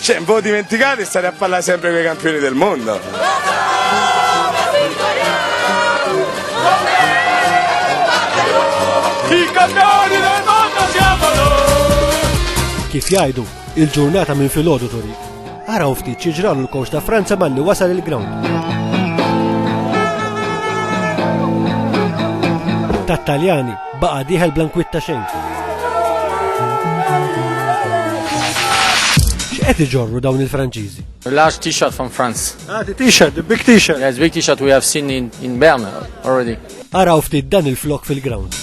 Xejn, bo dimentikati stare a parlare sempre con i campioni del mondo. I campioni del mondo siamo noi! Kif jgħidu, il-ġurnata minn filgħodu turi. Araw ftit xi ġralu l-kowx ta' Franza malli wasal il-ground. Tat-Taljani Baqa' dieħel bla nkwitta xejn. X'qed iġorru dawn il-Franċiżi? Large t-shirt from France. Ah, the t-shirt, the big t-shirt. Yes, big t-shirt we have seen in, in Bern already. Araw ftit dan il-flok fil-ground.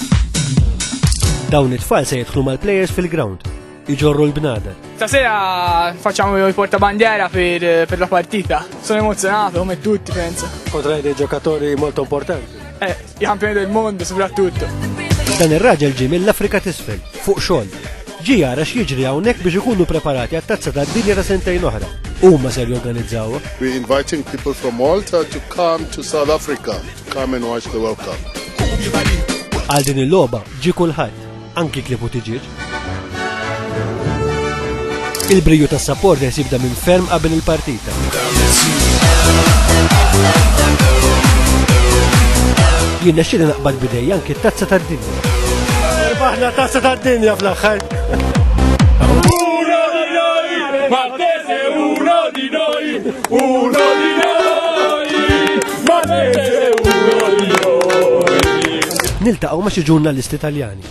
Dawn it-tfal se jidħlu mal-players fil-ground. iġorru l-bnada. Ta' sera facciamo il porta bandiera per, eh, per la partita. Sono emozionato come tutti, penso. Potrai dei giocatori molto importanti. Eh, i campioni del mondo soprattutto. Dan ir-raġel ġie mill-Afrika t'isfel, fuq xogħol. Ġi jara x'jiġri hawnhekk biex ikunu preparati għat-tazza tad-dinja ta' sentejn oħra. Huma ser jorganizzawha. We're inviting people from Malta to come to South Africa to come and watch the World Cup. Għal din il-logħba ġi kulħadd. Anki klieb u tiġieġ. Il-briju tas supporters jibda minn ferm qabel il-partita. Jien nexxili naqbad bidej anki t-tazza tad-dinja. Irbaħna tazza tad-dinja fl-aħħar. Martese uno di noi, uno di noi. Niltaqgħu ma' xi ġurnalisti Taljani.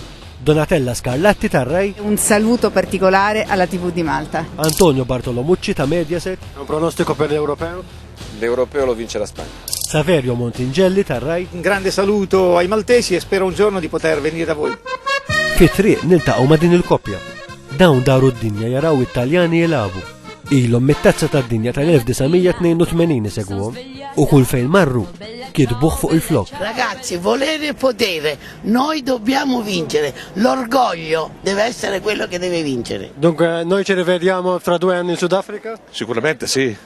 Donatella Scarlatti tar Rai. Un saluto particolare alla TV di Malta. Antonio Bartolomucci ta' Mediaset. Un pronostico per l'Europeo? L'Europeo lo vince la Spagna. Saverio Montingelli tar Rai. Un grande saluto ai maltesi e spero un giorno di poter venire da voi. Fi triq niltaqgħu ma' din il-koppja. Dawn daru d-dinja jaraw it-Taljani jilabu. Ilhom mit-tazza tad-dinja tal-1982 isegwhom. u kull fejn marru kitbuh fuq il-flokk. Ragazzi, volere e potere, noi dobbiamo vincere, l'orgoglio deve essere quello che deve vincere. Dunque, noi ci rivediamo fra due anni in Sudafrica? Sicuramente sì,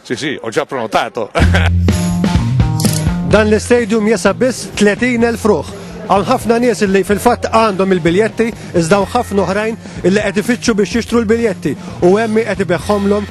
sì sì, ho già prenotato. Dan l-istadium jesa biss 30.000 fruħ. Għan ħafna nies li fil-fatt għandhom il-biljetti, iżda ħafna oħrajn li qed ifittxu biex jixtru l-biljetti u hemmi qed ibeħħomlhom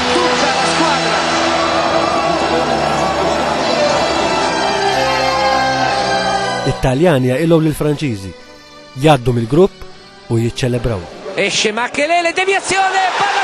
It-Taljani jaqilgħu lill-Franċiżi, jgħaddu mill-grupp u jiċċelebraw. Esce Makelele, devjazzjoni, palla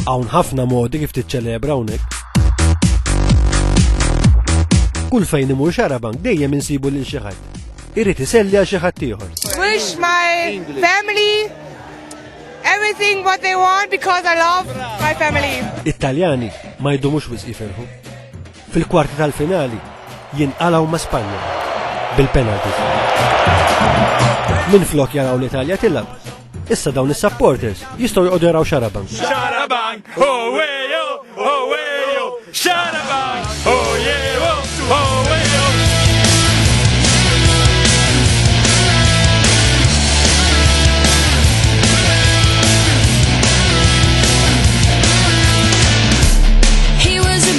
Hawn ħafna modi kif tiċċelebra hawnhekk. Kull fejn imur xarabank dejjem insibu lil xi ħadd. Irid iselli għal xi ħadd ieħor. Wish my family everything what they want because I love my family. Italjani ma jdumux wisq jiferħu. Fil-kwarti tal-finali jinqalgħu ma' Spanja bil-penalty. Minflok jaraw l-Italja tilgħab, issa dawn is-supporters jistgħu joqogħdu jaraw xarabank. Xarabank, owejo, owejo, xarabank, owejo, owejo.